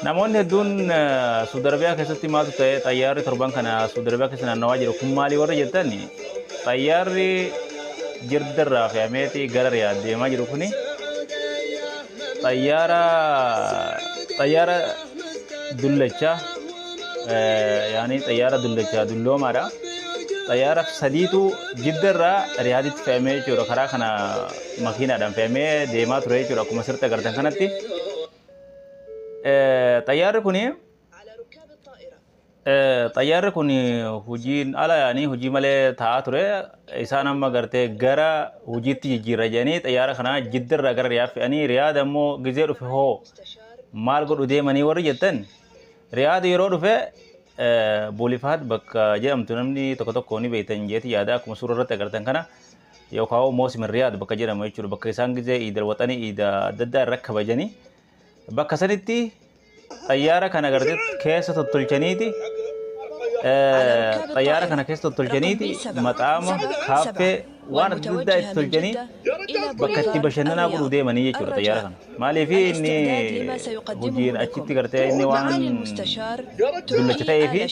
Namoonni hedduun Suudi Arabiyaa keessatti maaltu ta'e xayyaarri torban kana Suudi Arabiyaa keessa naannawaa jiru kun maalii warra jettan xayyaarri jirdarraa fe'ameeti gara Riyaad deemaa jiru kuni xayyaara xayyaara dullachaa yaani xayyaara dullachaa dulloomaadha. Xayyaara sadiitu jiddarraa Riyaaditti fe'amee jechuudha karaa kana makiinaadhaan fe'amee deemaa ture jechuudha akkuma sirriitti agartan kanatti. Xayyaarri kun xayyaarri kun hojiin ala yaanii hojii malee taa'aa ture isaan amma gartee gara hojiitti jijjiirra jedhanii xayyaara kana jiddarraa gara riyaad fe'anii riyaad ammoo gizee dhufe hoo maal godhu deemanii warri jettan riyaad yeroo dhufe boolifaat bakka jedhamtu namni tokko tokko ni beektan jeeti yaada akkuma suuraa irratti agartan kana yookaan Moosim Riyaad bakka jedhamu jechuudha. Bakka isaan gizee iidal waxanii iida adda addaa irra kabajanii bakka sanitti xayyaara kana gartee keessa tottolchaniiti xayyaara kana keessa tottolchaniiti maxaama kaaffee waan adda addaa itti tolchanii bakka itti bashannanaa godhuu deemanii jechuudha xayyaara kana. Maaliif inni hojiin achitti gartee inni waan dullacha ta'ee fi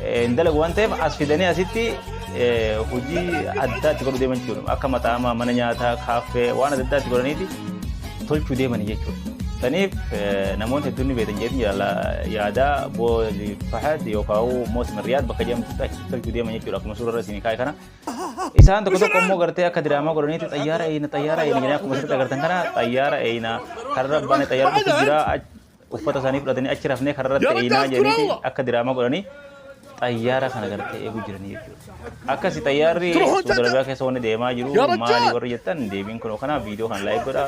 hin dalagu waan ta'eef as fidanii asitti hojii addaa itti godhu deeman jechuudha. Akka maxaamaa mana nyaataa kaaffee waan adda addaa itti godhaniiti tolchuu deemanii jechuudha. Saniif namoonni hedduun ni beekan jedhanii jala yaadaa booli fahad yookaan moosi mariyaad bakka jedhamu achitti tolchuu deeman jechuudha. Akkuma suurarra isin kaa'e kana Isaan tokko tokko immoo gartee akka diraamaa godhaniitti xayyaara eeyna xayyaara eeyna jedhanii akkuma sirriitti agartan kana xayyaara eeyna karra baane xayyaara dhufu jira uffata isaanii fudhatanii achi rafnee karra irratti eeynaa jedhaniiti akka diraamaa godhanii xayyaara kana gartee eeguu jiranii jechuudha. Akkasi xayyaarri Suudi Arabiyaa keessa wanni deemaa jiru maali warri jettan deebiin kun kanaa viidiyoo kan laayik godhaa.